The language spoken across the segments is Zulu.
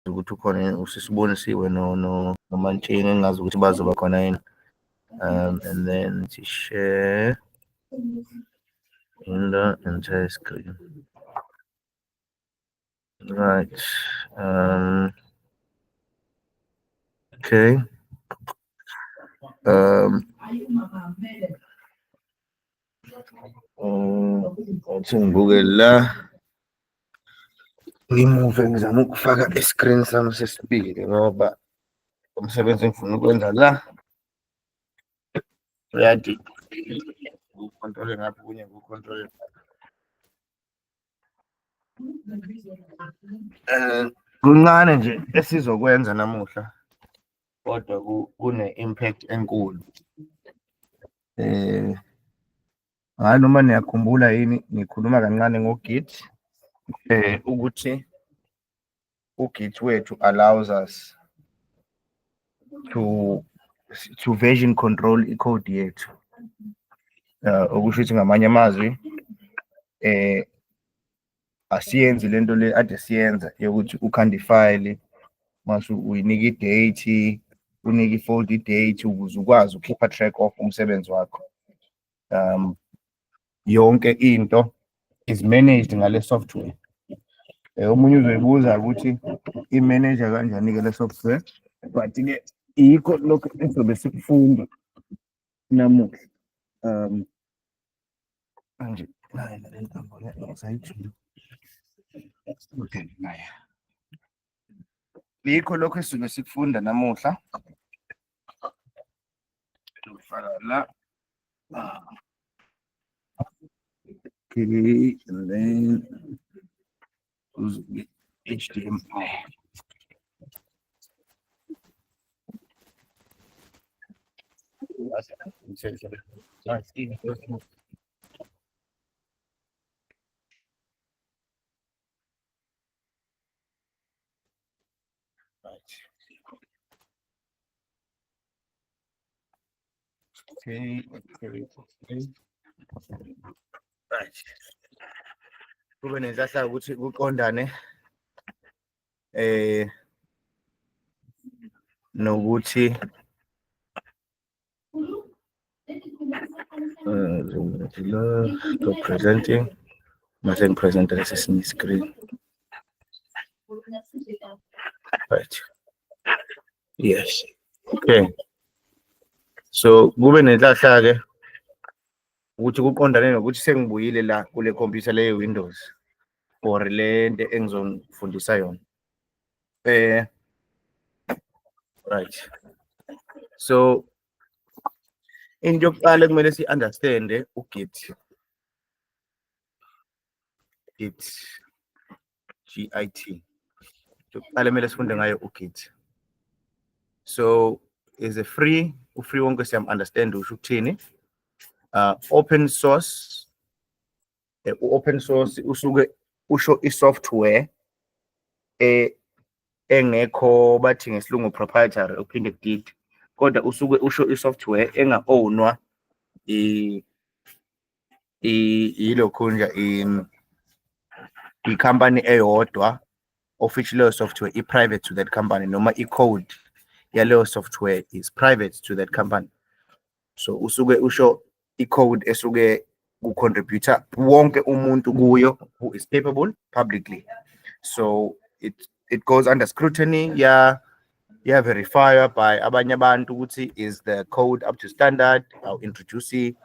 ukuthi ukhona usisibonisiwe no no nomantsheni engazi ukuthi bazoba khona yini um and then to share in the entire screen right um okay um Mm, Ngathi ngibuke la. Ngimuve ngizama ukufaka i-screen sami sesibili ngoba umsebenzi engifuna ukwenza la. Uyadi. Ukontrole ngapha kunye kukontrole. Eh kuncane nje esizokwenza namuhla kodwa kune impact enkulu. Eh hayi noma niyakhumbula yini ngikhuluma kancane ngoGit eh ukuthi uGit wethu allows us to to version control i-code yethu uh, okusho ukuthi ngamanye amazwi eh asiyenzi lento le ade siyenza yokuthi ukhanda ifayili mase uyinika i-date unike i-fold i-date ukuze ukwazi ukhipha track off umsebenzi wakho um yonke into is managed ngale software Eh, omunye uzoyibuza ukuthi i-manager kanjani-ke le software but-ke yikho lokhu esizobe sikufunda namuhla um manje naye nale ntambo le, usayijula. Okay, naye. Yikho lokho esisuke sikufunda namuhla. Ngifaka la. Okay, and then goes with HDMI. Right. Okay, okay, okay. Right. Kube nenhlahla ukuthi kuqondane eh nokuthi Uh, so presenting. Nothing present as is in the screen. Right. Yes. Okay. So kube nenhlahla ke ukuthi kuqondane nokuthi sengibuyile la kule computer leyo Windows or le nto engizonifundisa yona. Eh, right. So into yokuqala ekumele si-understande uGit. Git. G-I-T. Into yokuqala ekumele sifunde ngayo uGit. So is a free, u-free wonke siyam-understand usho ukuthini. Uh, open source eh, u-open source usuke usho i-software eh, engekho bathi ngesilungu proprietary uphinde kudid kodwa usuke usho i-software enga-ownwa yilokhunja i-company eyodwa of which leyo software i-private to that company noma i-code yaleyo software is private to that company so usuke usho i-code esuke ku-contributor wonke umuntu kuyo who is capable publicly so it, it goes under scrutiny ya ya verifier by abanye abantu ukuthi is the code up to standard aw introduce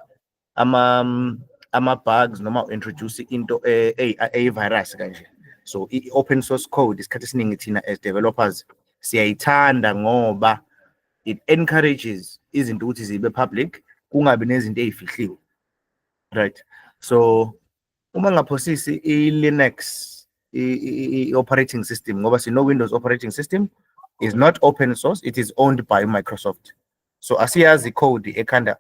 ama um, ama bugs noma introduce into e, e, e virus kanje so i open source code isikhathi esiningi thina as developers siyayithanda ngoba it encourages izinto ukuthi zibe public kungabi nezinto ezifihliwe right so uma ngaphosisi i-linux i-operating system ngoba sino-windows operating system is not open source it is owned by microsoft so asiyazi code ekhanda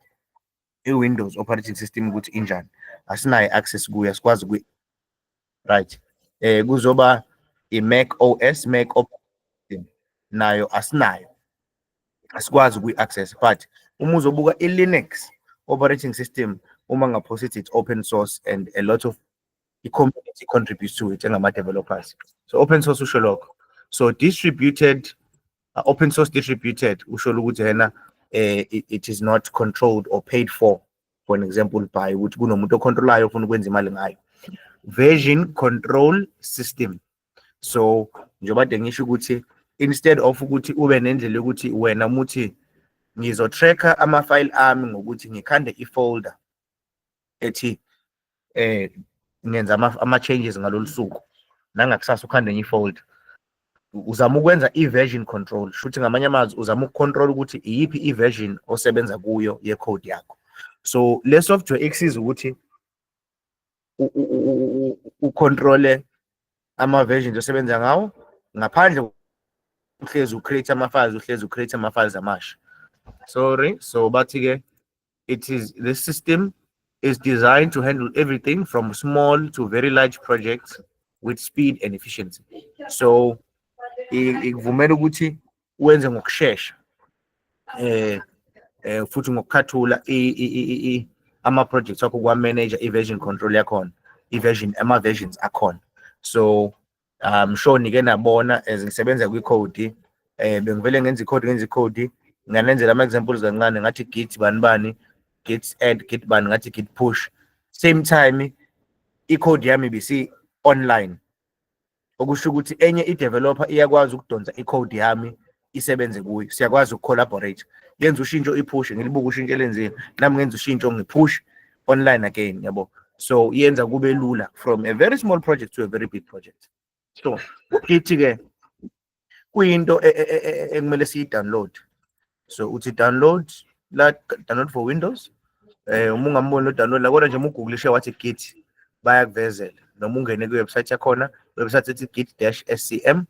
i-Windows operating system ukuthi injani asinayo access kuyo asikwazi ku right eh kuzoba i-Mac OS Mac operating nayo asinayo asikwazi kuyi-access but uma uzobuka i-Linux operating system uma ngaphosa ithi it's open source and a lot of i-community contributes to it engama-developers so open source usho lokho so distributed uh, open source distributed usho ukuthi yena eh, it, it is not controlled or paid for for an example by ukuthi kunomuntu ocontrolayo ofuna ukwenza imali ngayo version control system so njengoba de ngisho ukuthi instead of ukuthi ube nendlela yokuthi wena umuthi ngizotracker ama-file ami ngokuthi ngikhande i-folder ethi eh ngenza ama changes ngalolu suku nangakusasa ukhanda enye ifold uzama ukwenza i-version control shuthi ngamanye amazwi uzama ukucontrol ukuthi iyiphi i-version osebenza kuyo ye-code yakho so le software ikusiza ukuthi ucontrole ama-versions osebenza ngawo ngaphandle uhlezi ucreate ama-files uhlezi ucreate ama-files amasha sorry so bathi-ke it is the system is designed to handle everything from small to very large projects with speed and efficiency. So ikuvumela ukuthi wenze ngokushesha eh eh futhi ngokukhathula ama projects akho kwa manager i version control yakhona i version ama versions akhona so um sure nike nabona as ngisebenza kwi-code eh bengivele ngenza i-code ngenza i-code nganenzela ama-examples kancane ngathi git bani bani git add git bani ngathi git push same time i-code yami bisi online okusho ukuthi enye i-developer iyakwazi ukudonsa i-code yami isebenze kuyo siyakwazi ukucollaborate yenza ushintsho ipush ngilibuka ushintsho elenzile nami ngenza ushintsho ngipush online again yabo so yenza kube lula from a very small project to a very big project so ithi ke kuyinto e, e, e, ekumele siyi-download so uthi download la download for windows eh uma ungamboni lo-download la kodwa nje uma ugugulishe wathi git bayakuvezela noma ungene kwi-website yakhona website ethi git dash scm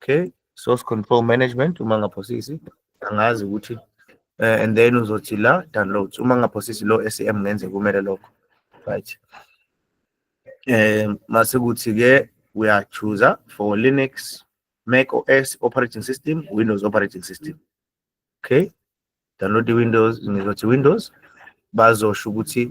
okay source control management uma ngaphosisi angazi ukuthi uh, and then uzothi la downloads uma ngaphosisi lo SAM ngenze kumele lokho right eh mase kuthi ke uya choose for Linux Mac OS operating system Windows operating system okay download the Windows ngizothi Windows bazosho ukuthi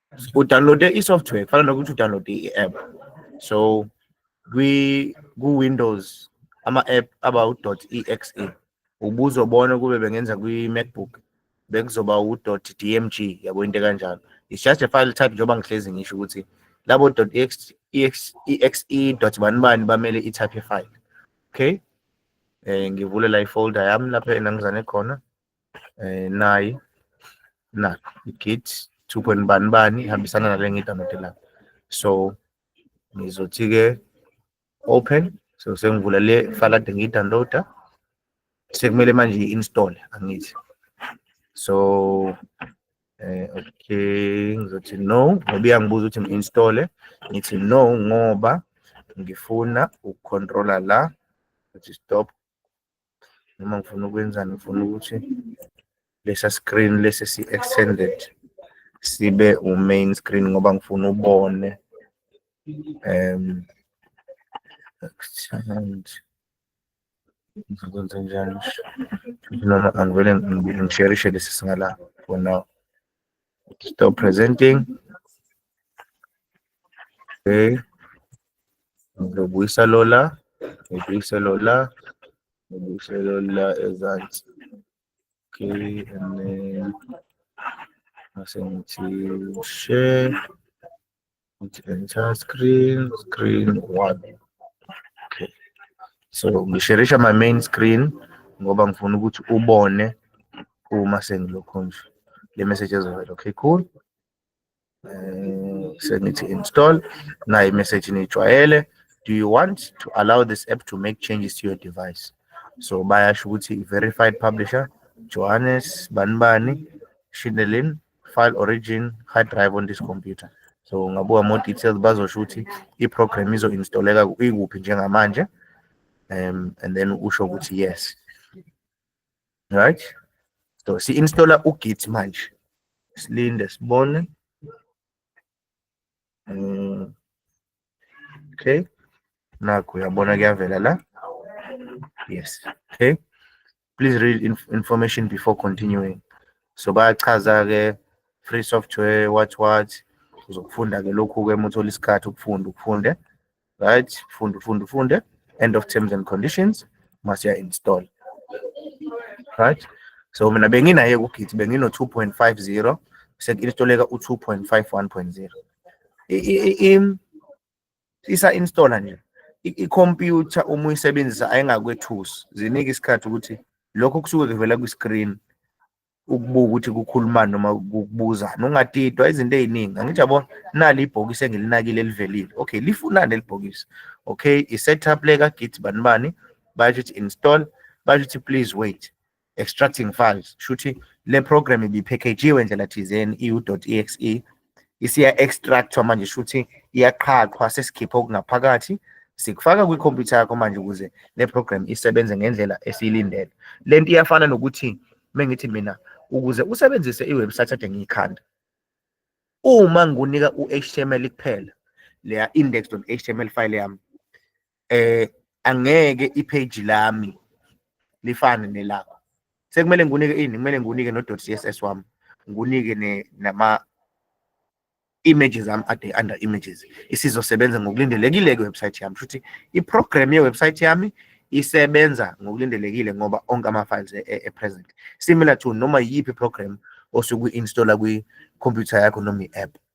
udownloade i-software kufana nokuthi udownloade i-app so ku-windows ama-app aba u-dot exe ubuzobona kube bengenza kwi-macbook bekuzoba u-dot dmg yabo into kanjalo it's just a file type njengoba ngihlezi ngisho ukuthi labo dot exe e dot bani bani bamele i-type file okay um ngivule la ifolder yami lapho enangizane khona eh, nayi na i-git two point bani bani ihambisana nale ngiyidownloade la so ngizothi-ke open so sengivula le file ade ngiyidownloada sekumele manje i-install angithi so eh, okay ngizothi no ngoba iyangibuza ukuthi ngi-installe ngithi no ngoba ngifuna ukucontrola la ukuthi stop noma ngifuna ukwenzani ngifuna ukuthi lesa screen lesi si extended sibe u main screen ngoba ngifuna ubone um extend ngizokwenza njani noma angivele ngisherishe lesi singala for now Stop presenting. Okay. Ngizobuyisa lola. Ngibuyise lola. Ngibuyise lola ezansi. Okay, and then mase ngithi share. It's entire screen, screen one. Okay. So ngisherisha my main screen ngoba ngifuna ukuthi ubone uma sengilokho nje le message ezovela. Okay, cool. Uh, sengithi install nayo imessage niyijwayele do you want to allow this app to make changes to your device so bayasho ukuthi verified publisher johannes banibani shindelin file origin hard drive on this computer so ungabuka more details bazosho ukuthi i-program izo-installeka ikuphi njengamanje um and then usho ukuthi yes right so si-installa ugit manje silinde sibone um okay nakho uyabona kuyavela la yes okay please read inf information before continuing so bayachaza ke free software what what uzokufunda ke lokhu ke muthola isikhathi ukufunda ukufunde right funda ufunde ufunde end of terms and conditions masiya install right so mina benginaye kugit bengino 2.50 sekuinstoleka u 2.51.0 isa installer nje i-computer uma uyisebenzisa ayingakwethusi zinike isikhathi ukuthi lokho kusuke kuvela kwi-screen ukubuka ukuthi kukhulumani noma ukubuzana ungadidwa izinto eziningi angithi yabo nali ibhokisi engilinakile elivelile okay lifunani elibhokisi okay i-setup le ka-git bani bani basho ukuthi install basho ukuthi please wait extracting files shuthi le program ibipackagiwe ndlela thizeni iu.exe isiya extractwa manje shuthi iyaqhaqhwa sesikhipha okungaphakathi sikufaka kwikhompyutha yakho manje ukuze le program isebenze ngendlela esiyilindele le nto iyafana nokuthi mengithi mina ukuze usebenzise iwebsite ade ngiyikhanda uma ngunika u-html kuphela leya index.html file yami eh angeke ipage lami lifane nelakho sekumele ngikunike ini kumele ngikunike no .css wami ngikunike ne nama images am ade under images isizosebenza ngokulindelekile ke website yami futhi i program ye website yami isebenza ngokulindelekile ngoba onke ama files e, e, e present similar to noma yiphi program osuku installer kwi computer yakho noma i app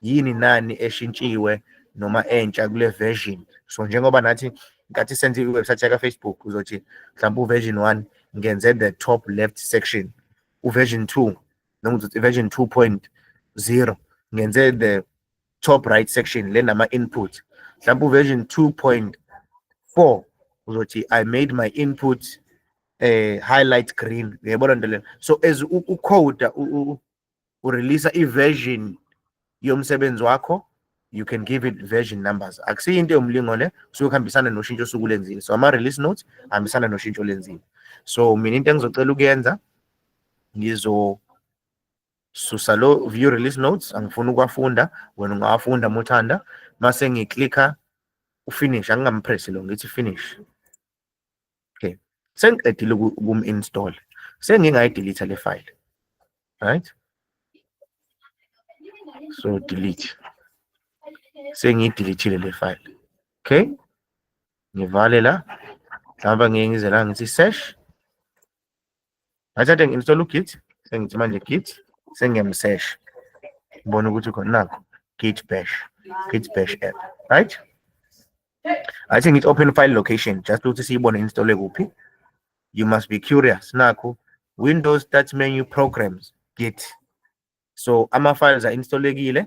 yini nani eshintshiwe noma entsha kule version so njengoba nathi nkathi senze iwebsite yaka Facebook uzothi mhlawumbe uversion 1 ngenze the top left section uversion 2 noma uzothi version 2.0 ngenze the top right section le nama input mhlawumbe uversion 2.4 uzothi i made my input eh highlight green uyabona nto leyo so as ucoda urelease iversion yomsebenzi wakho you can give it version numbers akusiyo into yomlingo le kusuke kuhambisana noshintsho osuke ulenzile so ama-release notes ahambisana noshintsho olenzile so mina into engizocela ukuyenza ngizosusa lo view release notes angifuni ukuwafunda wena ungawafunda uma uthanda mase ngiklikha ufinish angingampresi lo ngithi finish okay sengiqedile ukum install sengingayi delete le file right so delete sengiyi delete le file okay ngivale la mhlawumbe ngeke ngize la ngithi search Ngathathe ngi-install u-Git, sengithi manje Git, sengiyamsesh. Ngibona ukuthi khona nakho Git bash, Git bash app, right? I think it's open file location just ukuthi siyibone install kuphi. You must be curious nakho Windows start menu programs Git. So ama files are installekile.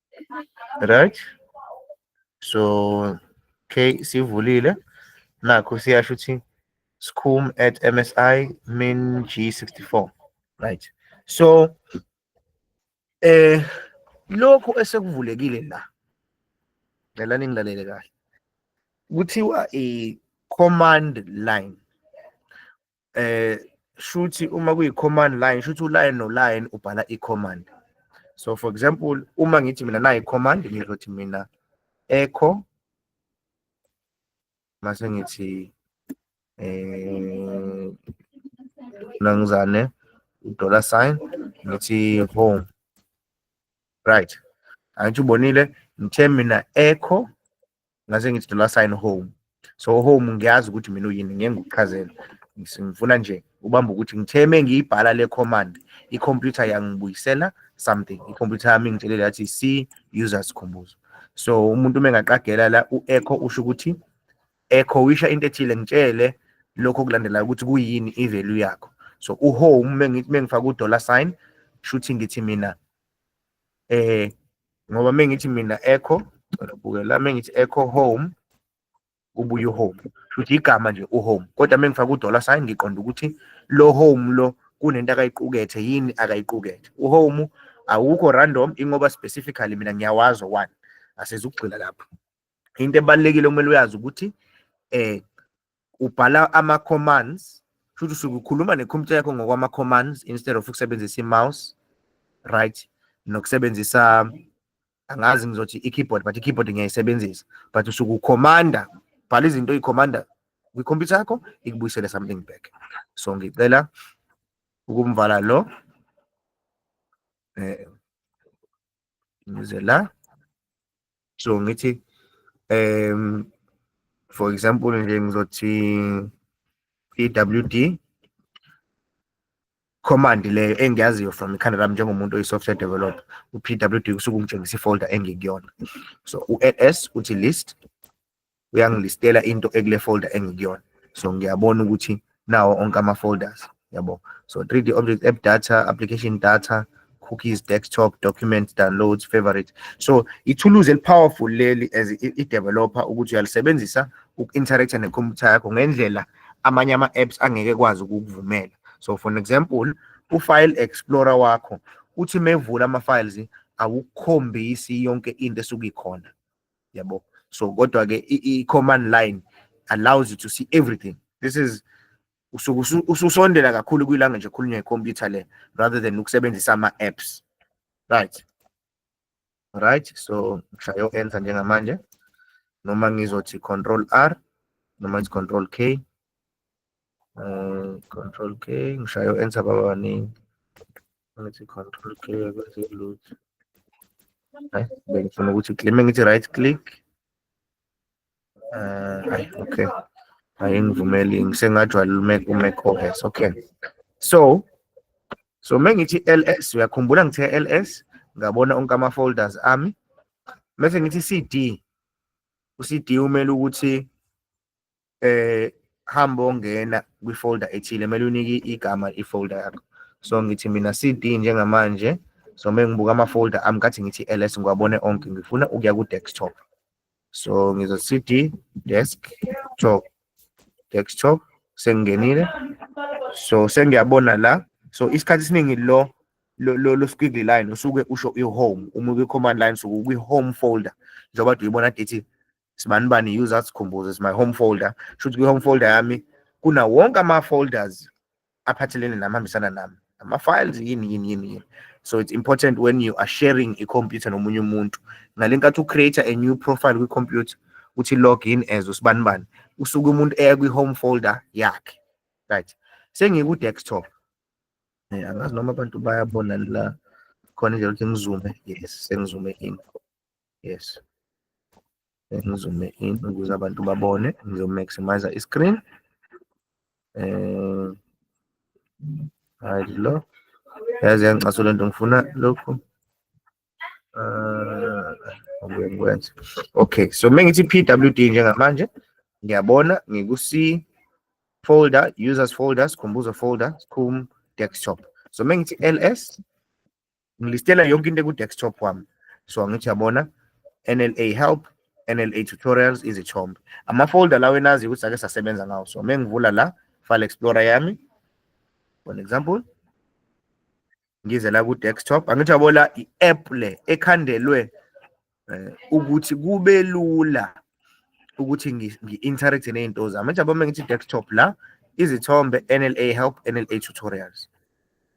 right so okay sivulile nakho siyasho ukuthi scum at msi min g64 right so eh lokhu esekuvulekile la ngicela ningilalele kahle kuthiwa i command line eh shuthi uma kuyi command line shuthi u line no line ubhala i command so for example uma ngithi mina nayi command ngizothi mina echo mase ngithi eh nangizane dollar sign ngithi home right angithi ubonile ngithe mina echo ngase ngithi dollar sign home so home ngiyazi ukuthi mina uyini ngeke ngikuchazele ngifuna nje ubamba ukuthi ngithe uma ngiyibhala le command i-computer yangibuyisela something i-computer yami ingitshelele yathi c user sikhumbuzo so umuntu uma engaqagela la u-echo usho ukuthi echo wisha into ethile ngitshele lokho okulandelayo ukuthi kuyini i-value yakho so uhome uma ngifaka u-dollar sign shuthi ngithi mina eh ngoba mengithi mina echo ngibukela mengithi echo home ubuye uhome futhi igama nje uhome kodwa mengifaka udollar sign ngiqonda ukuthi lo home lo kunento akayiqukethe yini akayiqukethe uhome awukho random ingoba specifically mina ngiyawazi one asizukugxila lapho into ebalulekile okumele uyazi ukuthi eh ubhala ama commands futhi usuke ukhuluma ne computer yakho ngokwama commands instead of ukusebenzisa i mouse right nokusebenzisa angazi ngizothi i keyboard but i keyboard ngiyayisebenzisa but usuke ucommanda bhala izinto uyicommanda kwi computer yakho ikubuyisele something back so ngicela ukumvala lo eh ngize la so ngithi um for example nje ngizothi i-wd command leyo engiyaziyo from ikhanda lami njengomuntu oyi-software developer u-pwd kusuke ungitshengisa ifolder engikuyona so u-ls uthi list uyangilistela into ekule folder engikuyona so ngiyabona ukuthi nawo onke ama folders yabo so 3d object app data application data cookies desktop documents downloads favorite so ithuluzi elipowerful leli as i-developer ukuthi uyalisebenzisa uku-interacta nekhompyutha yakho ngendlela amanye ama-apps angeke kwazi ukukuvumela so for an example ufile explorer wakho uthi mevula ama-files awukhombisi yonke into esuke ikhona yabo so kodwa ke i-command line allows you to see everything this is usuke ususondela kakhulu kwilanga nje khulunywa ikhompyutha le rather than ukusebenzisa ama-apps right right so ngishayo enter njengamanje noma ngizothi control r noma ngithi control k um control k ngishayo enter baba baningi Let's control clear bese load. Hayi, bengifuna ukuthi click ngithi right click. Uh, ay, okay. Hayi ngivumeli ngisengajwayela uMac uMac OS. Okay. So so mengithi LS uyakhumbula ngithe LS ngabona onke ama folders ami. Mase ngithi CD uCD umele ukuthi eh hamba ongena kwi-folder ethile kumele unike igama i-folder yakho so ngithi mina CD njengamanje so uma ngibuka ama-folder ami kathi ngithi ls ngiwabone onke ngifuna ukuya ku-desktop so ngizo CD desktop desktop sengingenile so sengiyabona la so isikhathi esiningi lo lo lo squiggly line usuke usho i-home uma kwi-command line usuke kwi-home folder njengoba uyibona dethi sibani bani user sikhumbuze is my home folder shuthi kwi-home folder yami kuna wonke ama-folders aphathelene nami hambisana nami ama-files yini yini yini yini so it's important when you are sharing i-computer nomunye umuntu ngale nkathi ucreate a new profile kwi-computer uthi log in as usibani bani usuke umuntu eya kwi-home folder yakhe right sengiku-desktop eh, angazi noma abantu bayabona la khona nje ukuthi ngizume yes sengizume in yes ngizume in ukuze abantu babone ngizomaximize i-screen um hayi lo yazi yangicaso le nto ngifuna lokhu um ngibuye ngikwenze okay so uma ngithi p w d njengamanje ngiyabona ngiku-c folder users folder sikhumbuzo folder sikhum desktop so uma ngithi ls ngilistela yonke into eku-desktop wami so angithi yabona NLA help NLA tutorials izithombe amafolder lawo enazi ukuthi sake sasebenza ngawo so mengivula la file explorer yami for example ngize la ku-desktop angithi yabo la i-app le ekhandelwe eh, ukuthi kube lula ukuthi ngi-interact nezinto zami njengoba uma ngithi desktop la izithombe NLA help NLA tutorials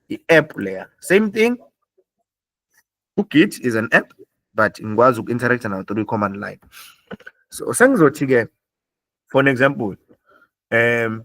i-app leya same thing ugit is an app but ngikwazi uku-interact nawo through i-command line so sengizothi-ke for an example um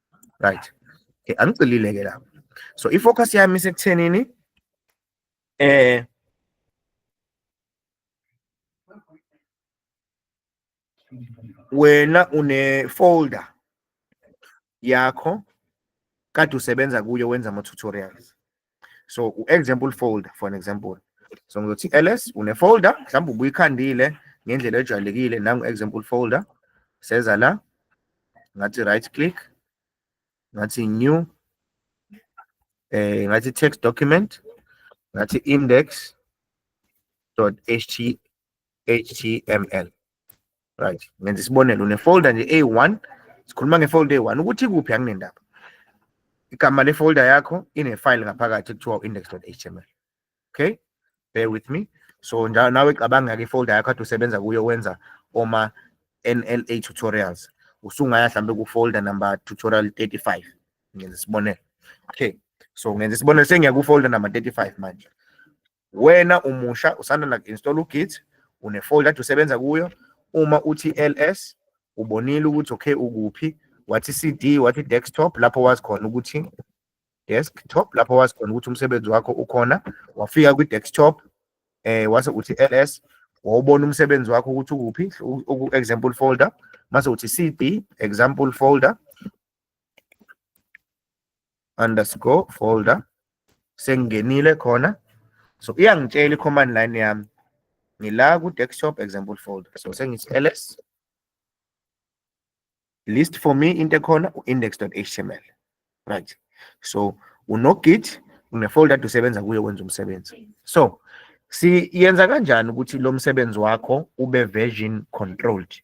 right okay angicilile ke lapho so ifocus yami isekuthenini eh wena une folder yakho kade usebenza kuyo wenza ama tutorials so u-example folder for an example so ngizothi ls une-folder mhlawumbe ubuyikhandile ngendlela ejwayelekile nangu-example folder seza la ngathi right click ngathi new eh ngathi text document ngathi index dot html html right ngenza isibonelo unefolder nje a1 sikhuluma ngefolder a1 ukuthi kuphi anginendaba igama lefolder yakho inefile ngaphakathi kuthiwa index.html okay bear with me so njalo nawe cabanga ke folder yakho athi usebenza kuyo wenza oma NLA tutorials usungaya hlambe ku folder number tutorial 35 ngenza isibonelo okay so ngenza isibonelo sengiya ku folder number 35 manje wena umusha usanda na install ugit une folder to sebenza kuyo uma uthi ls ubonile ukuthi okay ukuphi wathi cd wathi desktop lapho wazi khona ukuthi desktop lapho wazi khona ukuthi umsebenzi wakho ukhona wafika kwi desktop eh wase uthi ls wawubona umsebenzi wakho ukuthi ukuphi example folder mase uthi cd example folder underscore folder sengingenile khona so iyangitshela i-command line yami ngila ku-desktop example folder so sengithi ls list for me into ekhona u-index.html right so unogit unefolder ade usebenza kuyo wenza umsebenzi so siyenza kanjani ukuthi lo msebenzi wakho ube version controlled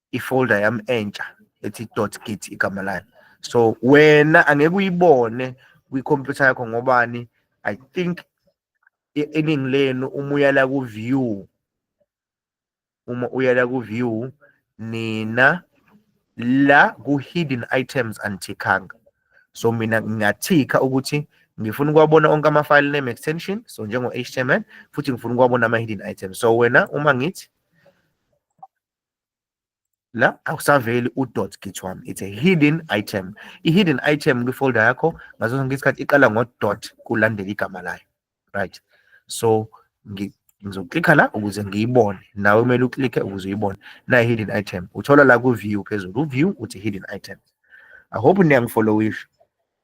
ifolder yami entsha ethi dot git igama layo so wena angeke uyibone kwikhompyutha yakho ngobani i think eningi lenu uma uyala ku-view uma uyala ku-view nina la ku-hidden items anithikanga so mina ngingathikha ukuthi ngifuna ukuwabona onke ama-file name extension so njengo-html futhi ngifuna ukuwabona ama-hidden items so wena uma ngithi la akusaveli udot githwami it's a hidden item i-hidden item kwifolder yakho ngaso sonke isikhathi iqala ngodot kulandela igama layo right so ngizoklikha la ukuze ngiyibone nawe kumele uklikhe ukuze uyibone nayi hidden item uthola la ku-view phezulu u-view uthi hidden item i hope niyangifollowisha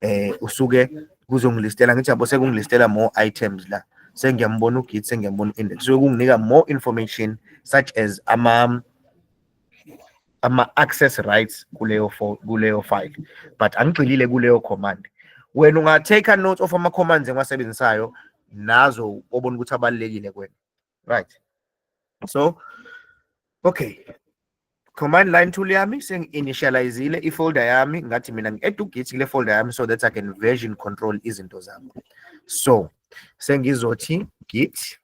eh usuke kuzongilistela ngithi yabo sekungilistela more items la sengiyambona ugit sengiyambona index so kunginika more information such as ama ama access rights kuleyo kuleyo file but angigxilile kuleyo command wena unga take a note of ama commands engiwasebenzisayo nazo obona ukuthi abalekile kwena right so okay command line tool yami sengi-initializile ifolder yami ngathi mina ngi-edugit kule folder yami so that i can version control izinto zami so sengizothi git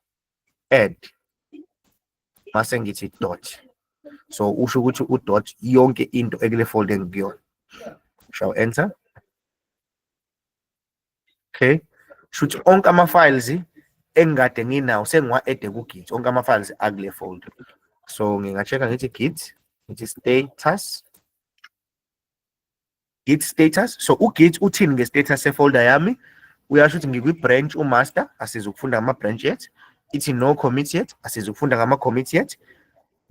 add mase ngithi dot so usho ukuthi udot yonke into ekule folder engikuyona shall enter okay shuthi onke ama files engikade nginawo sengiwa add ku git onke ama files akule folder so nginga checka ngithi git ngithi status git status so u git uthini nge status se folder yami uyasho ukuthi ngikwi branch u master asizukufunda ama branch yet ithi no commit yet asizukufunda ngama commit yet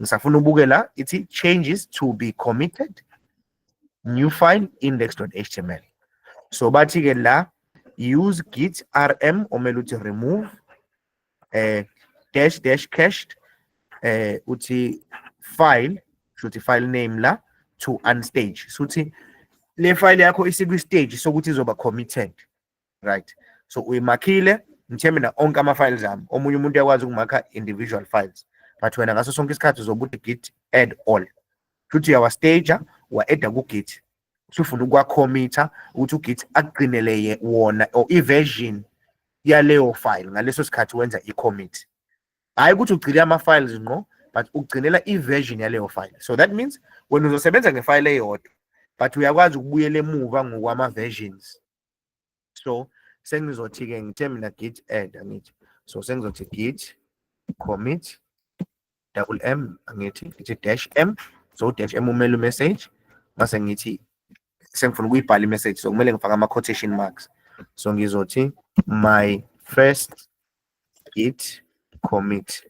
ngisafuna ubuke la ithi changes to be committed new file index.html so bathi ke la use git rm omele uthi remove eh dash dash cached eh uthi file shuthi file name la to unstage suthi le file yakho isikwi stage sokuthi izoba committed right so uyimakhile ngithembe na onke ama-files ami omunye umuntu uyakwazi ukumakha individual files but wena ngaso sonke isikhathi zobuthi git add all futhi uyawastaja wa-eda kugit usufuna ukwakhomitha ukuthi ugit akugcinele wona or i-version yaleyo file ngaleso sikhathi wenza i-commit hhayi ukuthi ugcine ama-files ngqo but ugcinela i-version yaleyo file so that means wena uzosebenza ngefayile eyodwa but uyakwazi ukubuyela emuva ngokwama-versions so sengizothi-ke ngithe mina git add angithi so sengizothi git commit double m angithi ngithi dash m so dash m umele umessage mase ngithi sengifuna ukuyibhala imessage so kumele ngifake ama-quotation marks so ngizothi my first git commit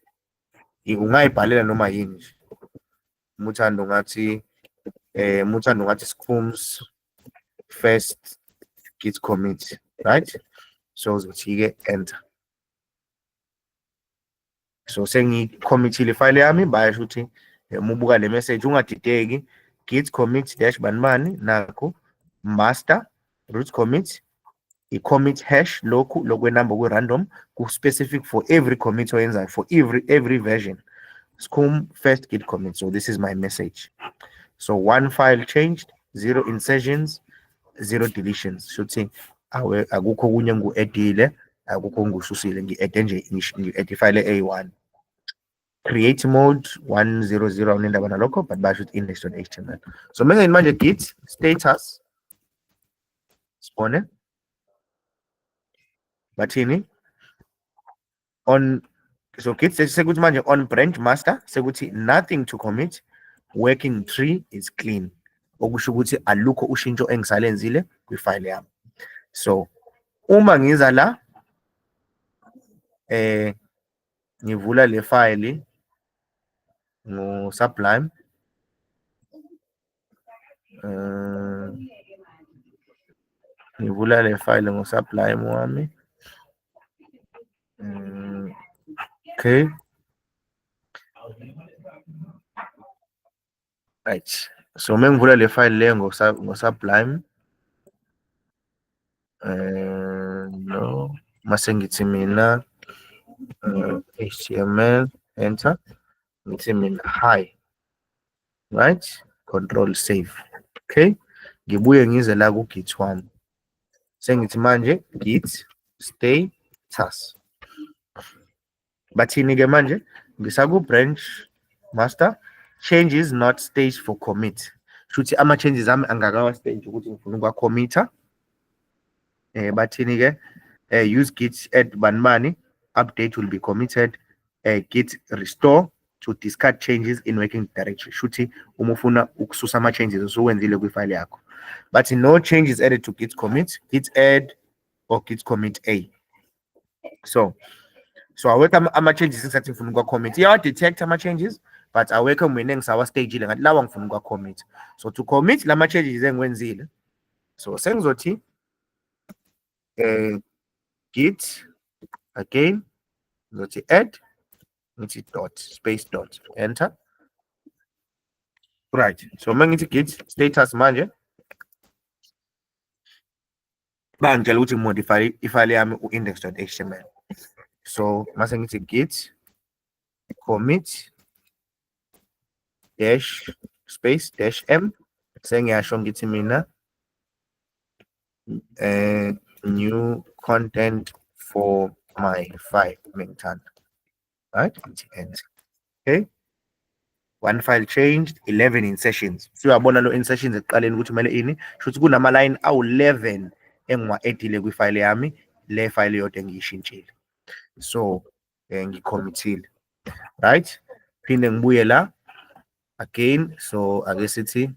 ungayibhalela noma yini nje umuthando ngathi eh umuthando ngathi sikhums first git commit right so uzothi-ke enter so sengikhomithile ifayile yami bayasho ukuthi eh, uma ubuka le message ungadideki git commit dash banibani nakho master root commit i-commit hash lokhu lokwenumber kwi-random ku-specific for every commit oyenzayo for every every version scum first git commit so this is my message so one file changed zero insertions zero deletions shuthi awe akukho kunye ngu-edile akukho ngisusile ngi-ede nje ngi-ede ifile eyi-one create mode 100 awunendaba nalokho but basho ukuthi index.html so mengeni manje git status sibone bathini on so git sekuthi manje on branch master sekuthi nothing to commit working tree is clean okusho ukuthi alukho ushintsho engisalenzile kwifile yami so uma ngiza la eh ngivula le file ngo-sublime um eh, ngivula le file ngo-sublime wami um okay right so uma ngivula le file le ngosublime um no mase ngithi mina uh, eh, html enter ngithi mina hi right control save okay ngibuye ngize la ku-git wami sengithi manje git stay task bathini-ke manje ngisaku-branch master change is not stage for commit shuthi ama-changes ami angakawa-stage ukuthi ngifuna ukuwa-committer eh bathini-ke eh use git add banibani update will be committed eh git restore to discard changes in working directory shuthi uma ufuna ukususa ama-changes osuwenzile kwifayile yakho bathi no changes added to git commit git add or git commit a so so awekho ama-changes engisathi ngifuna ukuwa-commit iyawa-detect ama-changes but awekho mina engisawastagile ngathi lawa ngifuna ukuwa-commit so to commit la ma-changes engiwenzile so sengizothi um git again ngizothi add ngithi dot space dot enter right so uma ngithi git status manje bangitshela ukuthi modify ifile yami u-index.html so mase ngithi git commit dash space dash m sengiyasho ngithi mina uh, new content for my file mengithanda right? Okay. One file changed, 11 insertions. Siyabona lo insertions ekuqaleni ukuthi kumele ini. Shuthi kunama line awu11 engiwa edile kwi file yami, le file yodwa engiyishintshile. So, eh, ngicommittile. Right? Phinde ngibuye la again. So, ake sithi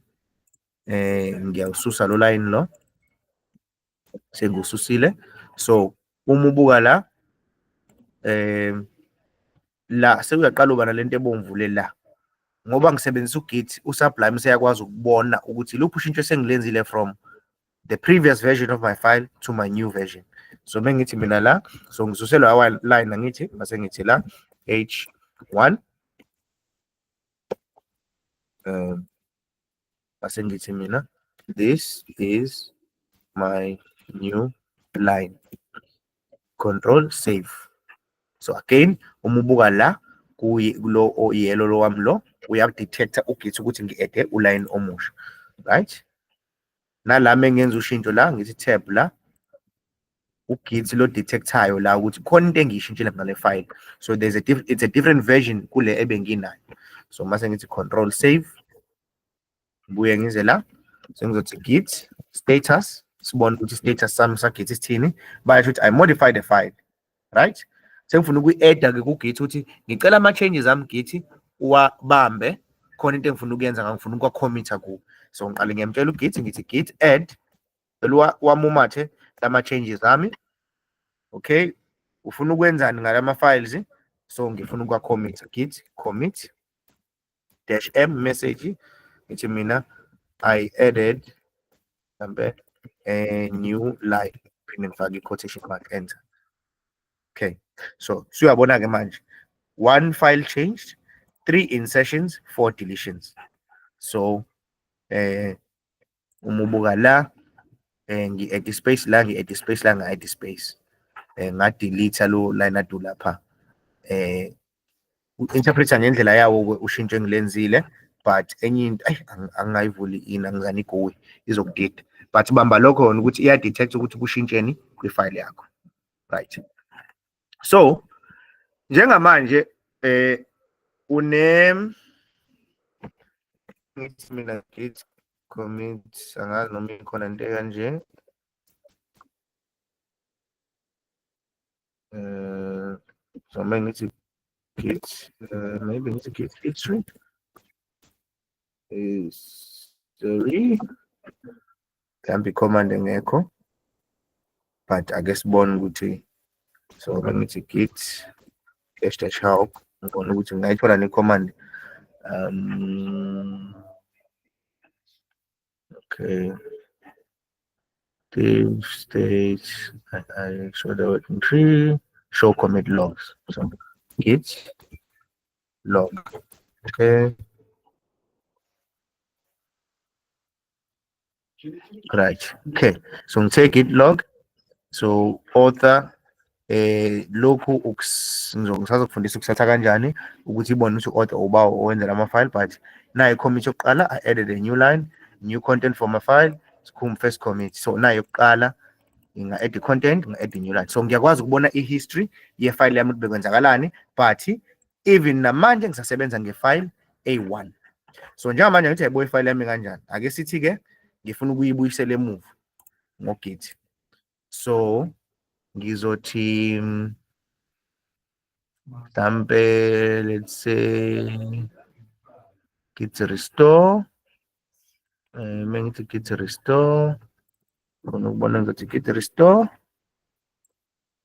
eh ngiyawususa lo line lo. sengiwususile so uma ubuka la eh la sekuyaqala uba nalento ebomvu le la ngoba ngisebenzisa ugit usublime seyakwazi ukubona ukuthi luphi ushintsho esengilenzile from the previous version of my file to my new version so mengithi mina la so ngisuselwa awa line ngithi mase ngithi la h1 um Ngase ngithi mina this is my new line. Control save. So again uma ubuka la kulo oyelo lo wami lo uyakudetecta uGit ukuthi ngi-ede uline omusha right nala mengenza ushintsho la ngithi tab la ugit lo detectayo la ukuthi khona into engiyishintshile ngale file so there's a it's a different version kule ebenginayo so mase ngithi control save ngibuye ngize la sengizothi git status sibone ukuthi status sami sagit isithini basho ukuthi i modify the file right sengifuna ukuyi-eda ke kugithi ukuthi ngicela ama-changes ami githi uwabambe khona into engifuna ukuyenza ngangifuna ukuwakhomitha kuwo so ngiqale ngiyamtshela ugithi ngithi git add cela wamumathe lama-changes ami okay ufuna ukwenzani ngalama-files so ngifuna ukuwakhomitha git commit dash m message ngithi mina i added mhlampe a new line phinde ngifake i-quotation mark enter okay so suyabona-ke manje one file changed three insertions four deletions so eh uma ubuka la eh ngi-add space la ngi-add space la ngi-add space eh ngadelete lo line adu lapha eh interpreter ngendlela yawo ushintsho engilenzile but enye into ayi angingayivuli ini angizani igowi izokudida but bamba lokho yona ukuthi iya-detect ukuthi kushintsheni kwi-file yakho right so njengamanje eh une mina git commit angazi noma ikhona into kanje eh so mina ngithi git eh, maybe ngithi git history is three mhlawumbe i-command engekho but ake sibone ukuthi so bengithi git dash dash help ngibona ukuthi ngingayithola ne-command um okay Active stage, I, I show the working tree, show commit logs. So git log. Okay. Right. Okay. So take it log. So author eh lokhu ngisazokufundisa ukusatha kanjani ukuthi ibone ukuthi order uba owenzela ama file but nayo commit yokuqala i added a new line new content for my file sikhum first commit so nayo yokuqala inga add content nga add new line so ngiyakwazi ukubona i history ye file yami ukuthi bekwenzakalani but even namanje ngisasebenza ngefile A1 so njengamanje ngithi ayibuye ifile yami kanjani ake sithi ke ngifuna ukuyibuyisela emuva ngogit so ngizothi mhlampe let's say git restore eh, uma ngithi git restore ngifuna ukubona ngizothi git restore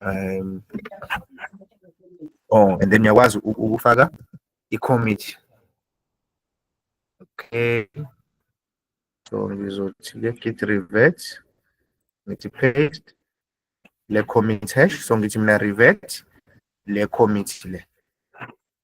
um oh and then uyakwazi ukufaka i-committee okay so ngizothi le git revert ngithi paste le commit hash so ngithi mina revert le commit le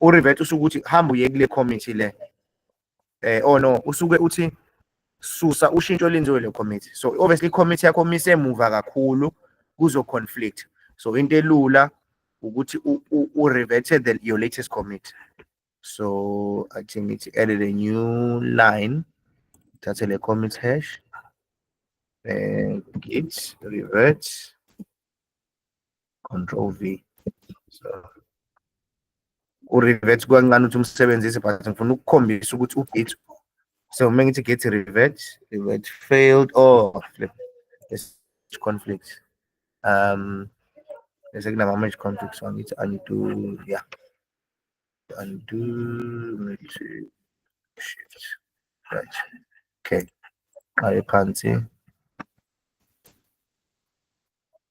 uRivet usuke uthi hamba uye kule committee le eh oh no usuke uthi susa ushintsho lenziwe le committee so obviously committee yakho mise emuva kakhulu kuzo conflict so into elula ukuthi u reverted the your latest commit so i think it's added a new line thathe le commit hash and eh, git revert control v so urevert kukancane ukuthi umsebenzise but ngifuna ukukhombisa ukuthi ugate so uma ngithi gate revert revert failed or flip conflict um bese kunama-merge conflict so angithi undo ya undo merge shift right okay aye phansi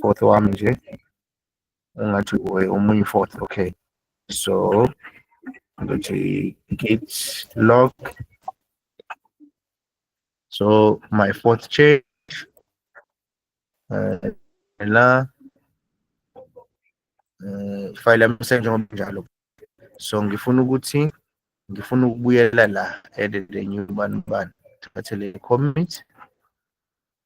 fourth wami nje ungathi uwe omunye fourth okay so ngithi git log so my fourth change uh, la uh, file yami senjengoba njalo so ngifuna ukuthi ngifuna ukubuyela la edit a new bani bani thathe le commit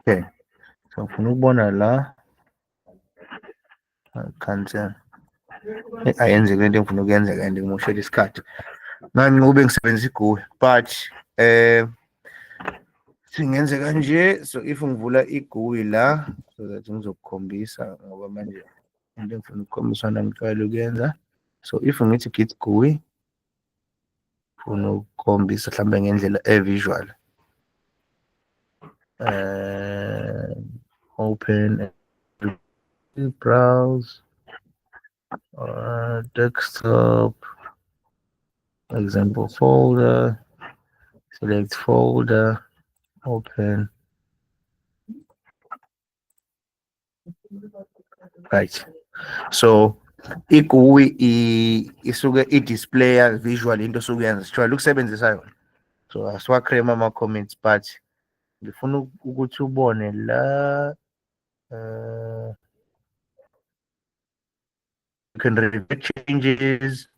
Okay. So ngifuna ukubona la cancel. Eh, ayenzeki lento engifuna ukuyenzeka and ngimoshela isikhathi. Manje ngobe ngisebenzisa iGUI but eh singenze kanje so if ngivula iGUI la so that ngizokukhombisa ngoba manje into engifuna ukukhombisa nangijwayele ukuyenza so if ngithi git GUI funa ukukhombisa mhlawumbe ngendlela e-visual uh, open browse uh, desktop example folder select folder open Right. So igui isuke i-displayer visual into osuke yenza sijwayele ukusebenzisa yona so asiwacreme ama-comments but ngifuna ukuthi ubone la um you can review changes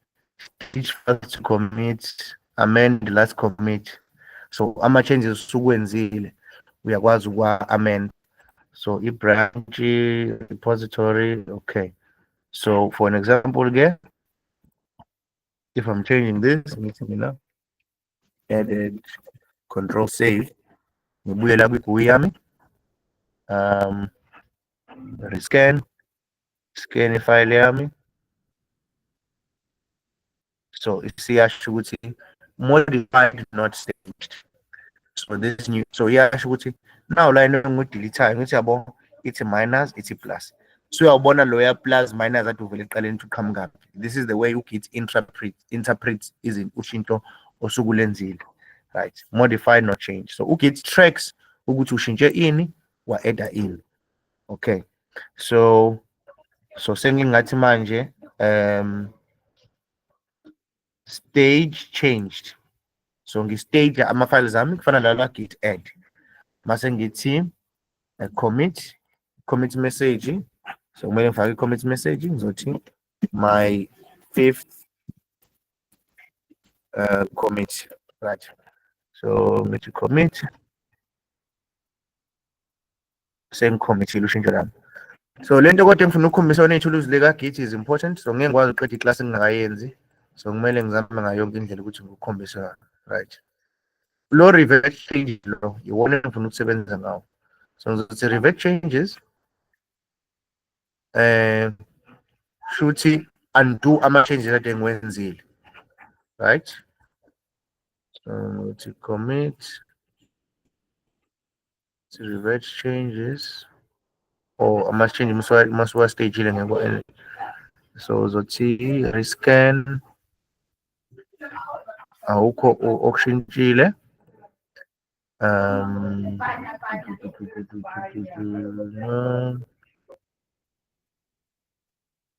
each first commit amend last commit so ama changes usukwenzile uyakwazi ukwa amend so i branch repository okay so for an example again if i'm changing this meeting you know added control save ngibuyela kwi-GUI yami um rescan scan ifayile yami so isiyasho ukuthi modified not saved so this new so iyasho ukuthi now la into engideletayo ngithi yabo ithi minus ithi plus so uyawubona loya plus minus athi uvele eqaleni ukuthi uqhamuka this is the way ugit interpret interprets izinto ushintsho osuke ulenzile right modify not change so ugit tracks ukuthi ushintshe ini wa-eda ini okay so so sengingathi manje um stage changed so ngi-stage ama-files ami kufana lala git add mase ngithi a commit commit message so kumele ngifake i-commit message ngizothi my fifth uh, commit right so ngithi commit sengikhombisile ushintsho lami so lento kodwa engifuna ukukhombisa yona ithuluzi likagithi is important so ngeke ngikwazi uqeda iklasi engingakayenzi so kumele ngizame ngayo yonke indlela ukuthi ngikukhombise right lo revert change lo iwona engifuna ukusebenza ngawo so ngizothi revert changes eh shuthi undo ama changes ade ngiwenzile right so ngithi commit si revert changes or ama change uma siwa stage ile ngeko and so uzothi rescan awukho okushintshile um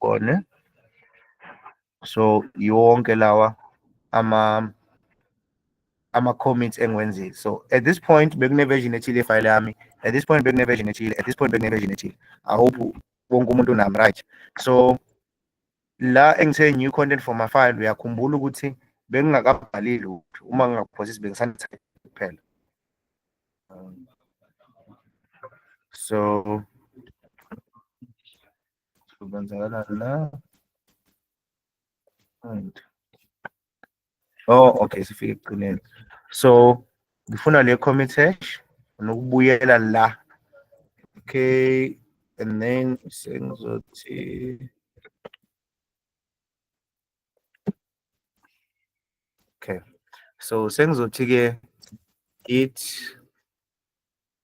gone so yonke lawa ama ama-commits engiwenzile so at this point bekuneversion ethile ifayile yami at this point bekuneversion ethile at this point bekuneversion ethile i hope wonke umuntu unami right so la engithe new content for my file uyakhumbula ukuthi bengingakabhali lutho uma ngingakuphosisi bengisanithatha kuphela so Kwenzakalani la? Right. Oh, okay, sifike ekugcineni. So, ngifuna le commit hash nokubuyela la. Okay, and then sengizothi Okay. So sengizothi ke git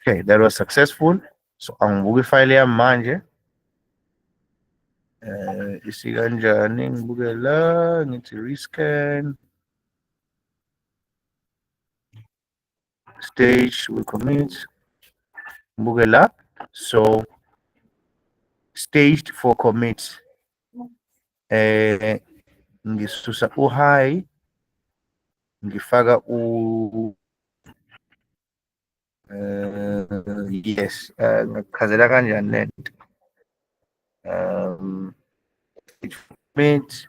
Okay, that was successful. So angibuka ifile yami manje. Eh isikanjani ngibuke la ngithi rescan. Stage we commit. Ngibuke la. So staged for commit. eh ngisusa u high ngifaka u eh yes eh, ngikuchazela kanjani lento um it means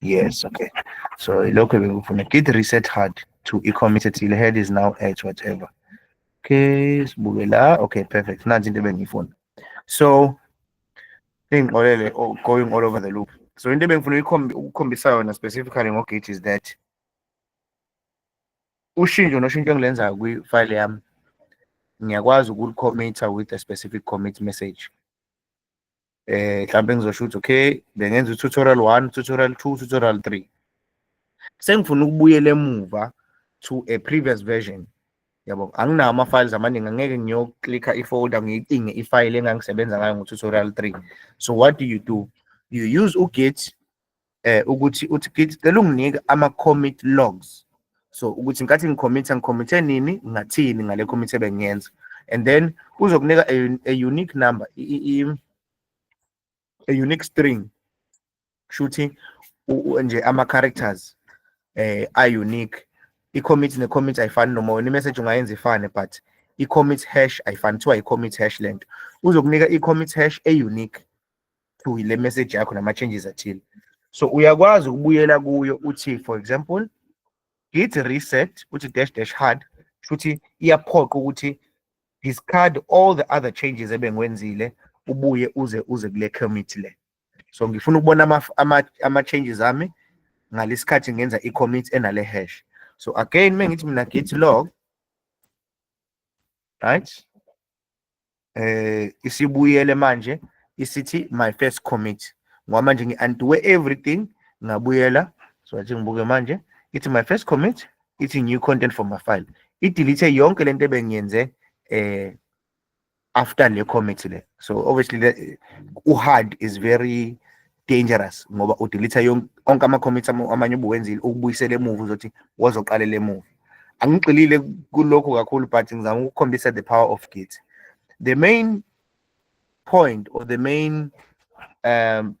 Yes, okay. So lokho bekufuna. Git reset hard to e-commit ethile. Head is now at whatever. Okay, sibuke la. Okay, perfect. Nansi into ebengiyifuna. So ingixolele oh, going all over the loop. So into ebengifuna ukukhombisa yona specifically ngo-Git is that ushintsho noshintsho engilenzayo kwi-file yami ngiyakwazi ukulikhomitha with a specific commit message eh mhlawumbe ngizosho ukuthi okay bengenza tutorial 1 tutorial 2 tutorial 3 sengifuna ukubuyela emuva to a previous version yabo anginawo ama-files amaningi angeke ngiyoklikha i-folder ngiyicinge i-file engangisebenza ngayo ngo-tutorial 3 so what do you do you use ugit eh ukuthi uthi kithi cela unginike ama commit logs so ukuthi nkathi ngicommitter ngicommitte nini ngathini ngale commit ebengiyenza and then uzokunika a, a unique number i, i, a unique string shuthi nje ama characters eh a unique i commit ne commit ayifani noma wena message ungayenza ifane but i commit hash ayifani kuthiwa i commit hash lento uzokunika i commit hash e unique to le message yakho nama changes athile so uyakwazi ukubuyela kuyo uthi for example git reset uthi dash dash hard shuthi iyaphoqa ukuthi discard all the other changes ebengiwenzile ubuye uze uze kule commit le so ngifuna ukubona ama ama, ama changes ami ngalesikhathi ngenza i commit enale hash so again mengithi mina git log right eh isibuyele manje isithi my first commit ngoba manje ngi-antiwe everything ngabuyela so athi ngibuke manje ithi my first commit ithi new content for my file idelete yonke lento ebengiyenze eh after le commit le so obviously the, uhard is very dangerous ngoba udelete onke ama-comments amanye ubuwenzile ukubuyisela emuva uzothi wazoqalela emuva angigxilile kulokho kakhulu but ngizama ukukhombisa the power of git the main point or the main um,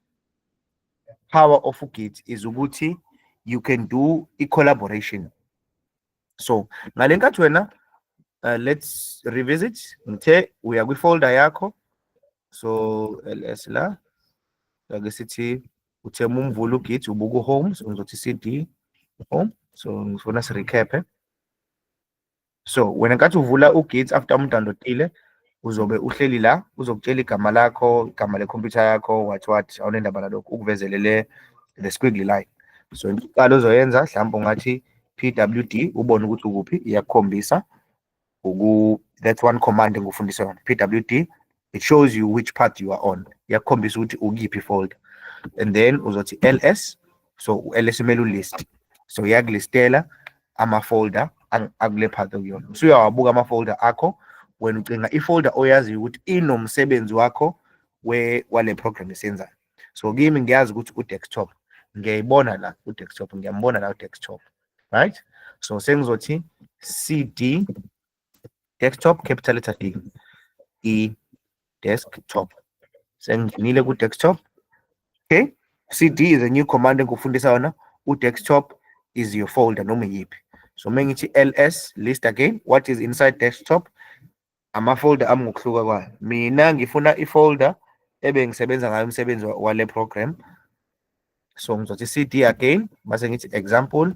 power of ugit is ukuthi you can do i-collaboration so ngale nkathi wena uh, let's revisit ngithe uya kwi-folder yakho so ls la ake sithi uthe uma umvula ugit ubuka uhome so ngizothi cd home so ngifuna sirecaphe so wena nkathi uvula ugit after umdownloadile uzobe uhleli la uzokutshela igama lakho igama lekhompyutha yakho what what awunendaba nalokho ukuvezelele the squiggly line so into iqala ozoyenza mhlawumbe ungathi pwd ubone ukuthi ukuphi iyakukhombisa uku that's one command engikufundisa yona pwd it shows you which path you are on iyakukhombisa ukuthi ukuyiphi folder and then uzothi ls so u-ls umele ulist so iyakulistela ama-folder akule path okuyona usuyawabuka ama-folder akho wena ucinga i-folder oyaziyo ukuthi inomsebenzi wakho wale program esenzayo so kimi ngiyazi ukuthi u-desktop ngiyayibona la u-desktop ngiyambona la u-desktop right so sengizothi cd desktop capital letter D i desktop sengingenile ku desktop okay cd is a new command engikufundisa yona u desktop is your folder noma yiphi so mengithi ls list again what is inside desktop ama folder ami ngokuhluka kwayo mina ngifuna i folder ebe ngisebenza ngayo umsebenzi wale program so ngizothi cd again base ngithi example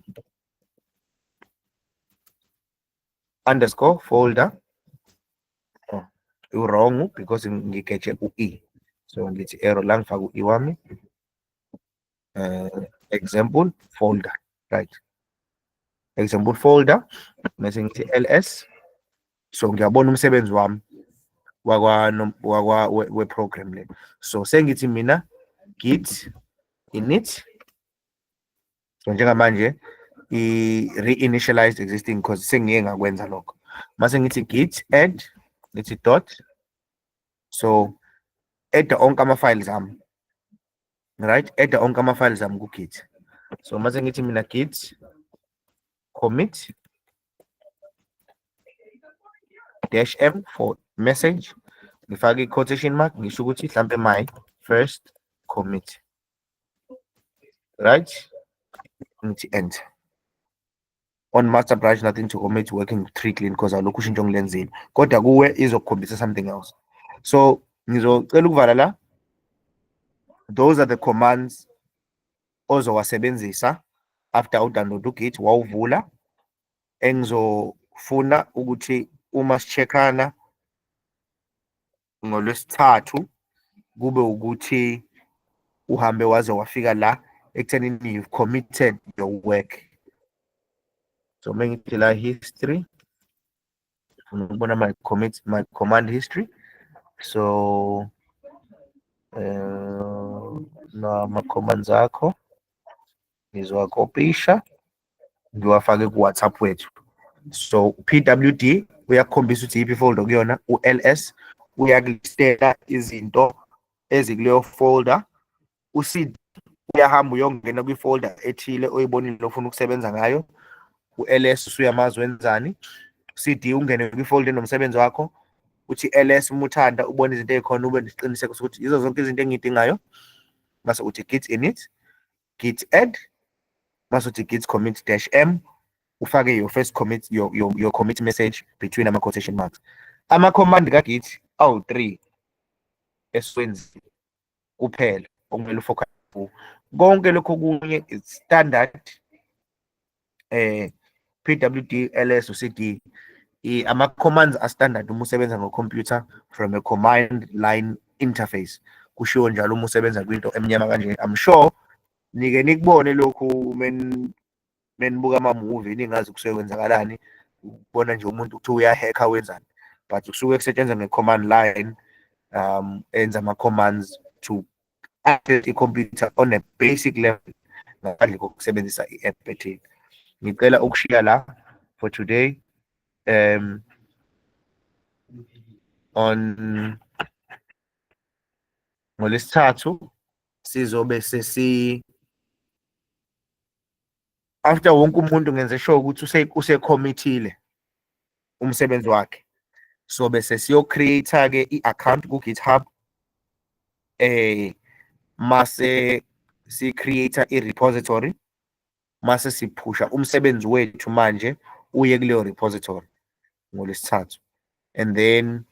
underscore folder oh, wrong because ngiketshe u-e so ngithi error la ngifaka u-e wami uh, example folder right example folder mese ngithi ls so ngiyabona umsebenzi wami wakwa wakwa we-program le so sengithi mina git init so njengamanje i-reinitialized existing because sengiye ngakwenza lokho mase ngithi git add ngithi dot so edda onke ama-files ami right edda onke ama-files ami ku-git so mase ngithi mina git commit dash m for message ngifake i-quotation mark ngisho ukuthi hlampe my first commit Right? Ngithi end. On master brush nothing to commit working three clean because alokhu ushintsho ngilenzile. Kodwa kuwe izokukhombisa something else. So ngizocela ukuvala la. Those are the commands ozowasebenzisa after udownload ugit wawuvula engizofuna ukuthi uma sicheckana ngolwesithathu kube ukuthi uhambe waze wafika la ekuthenini you've committed your work so uma ngithi la history ngifuna ukubona my commit my command history so uh, eh, nama commands akho ngizowakopisha ngiwafake ku-whatsapp wethu so pwd uyakukhombisa ukuthi yiphi folder kuyona u-ls uyakulistela izinto ezikuleyo folder ucd uyahamba uyongena kwifolder ethile oyibonile ofuna ukusebenza ngayo u-ls usuyamazi wenzani cd ungene kwifolder enomsebenzi wakho uthi ls umuthanda ubona izinto ey'khona ube nesiqiniseko sokuthi yizo zonke izinto engiyidingayo mase uthi git in it git add bazothi git commit dash m ufake your first commit your, your, your commit message between ama quotation marks ama command ka git awu 3 esiwenzi kuphela okumele ufocus konke lokho kunye standard eh PWD LS uCD ama commands a standard uma usebenza ngo computer from a command line interface kushiwo njalo uma usebenza kwinto emnyama kanje i'm sure nike nikubone lokhu men menibuka ama movie ningazi kusuke kwenzakalani ukubona nje umuntu ukuthi uyahacker wenzani but kusuke kusetshenzwa nge command line um enza ama commands to access i-computer on a basic level ngaphandle kokusebenzisa i-app ethile ngicela ukushiya la for today um on ngolesithathu sizobe sesi after wonke umuntu ngenze sure ukuthi usekhomithile umsebenzi wakhe so bese siyocreate ke i-account ku-github eh mase si-create i-repository mase siphusha umsebenzi wethu manje uye kuleyo repository ngolesithathu and then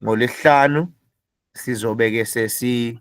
ngolesihlanu sizobe ke sesi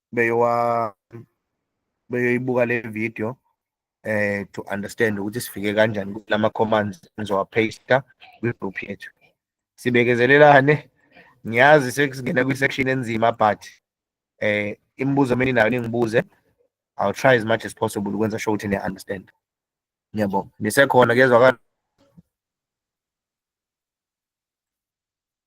beyowa beyoyibuka le video eh to understand ukuthi sifike kanjani kulama commands enzowa paste kwi group yethu sibekezelelane ngiyazi sekusingena kwi section enzima but eh imibuzo mina nayo ningibuze i'll try as much as possible ukwenza sure ukuthi ni understand ngiyabonga nisekhona kezwakala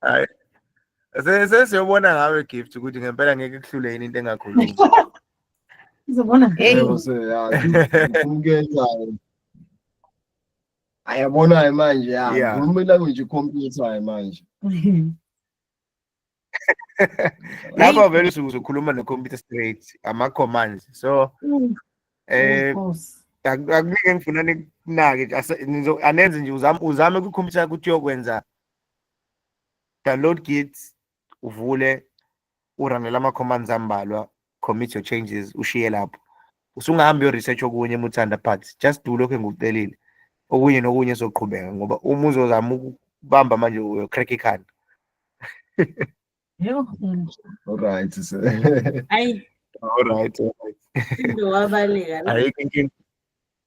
hayi sesiyobona ngawe gift ukuthi ngempela ngeke kuhlule yini into engakhulumi uzobona umkethayo ayabonayo manje ya ngikhuluma ilanguage ikhompyuthayo manje lapho vele usukuze ukhuluma ne-computer straight ama-commands so mm. Eh akuningi engifuna nikunake anenze nje uzame uzame ku computer ukuthi uyokwenza download git uvule uranele ama commands ambalwa commit your changes ushiye lapho usungahambi yo research okunye muthanda but just do lokho engikucelile okunye nokunye soqhubeka ngoba uma uzozama ukubamba manje uyo crack ikhanda Yho, mm. Alright. so- Ayi, Alright. alright. into wabaleka la. Ayikho inkinga.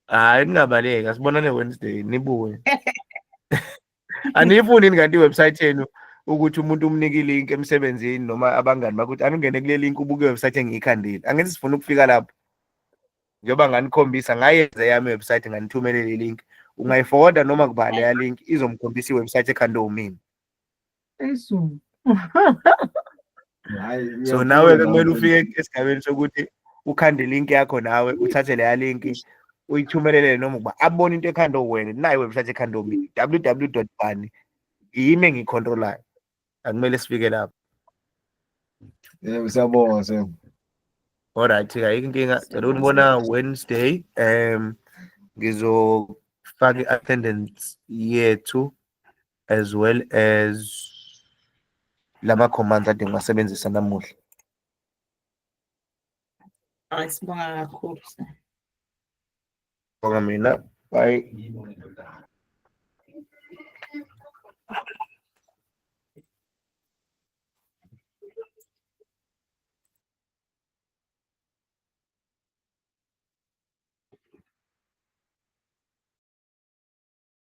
Hayi ningabaleki asibonane Wednesday nibuye. Aniyifuni yini kanti iwebsite yenu ukuthi umuntu umnike ilink emsebenzini noma abangani bakho ukuthi aningene kule link ubuke iwebsite engiyikhandile. Angeke sifuna ukufika lapho. Njengoba nganikhombisa ngayenza yami iwebsite nganithumelela ilink. Ungayiforwarda noma kubani ya link izomkhombisa iwebsite ekhandwe umina. Esu. Hayi. so nawe ke kumele ufike esigabeni sokuthi ukhande link yakho nawe uthathe leya link uyithumelele noma ukuba abone into ekhanda wena naye website ekhanda mina www bani yimi engiyicontrolayo akumele sifike lapho Yebo siyabonga siyabonga. Alright, ayikho inkinga. Cela unibona Wednesday. Um ngizofaka i-attendance yethu as well as lama commands ade ngiwasebenzisa namuhla Ay, sibonga kakhulu. bonga mina bye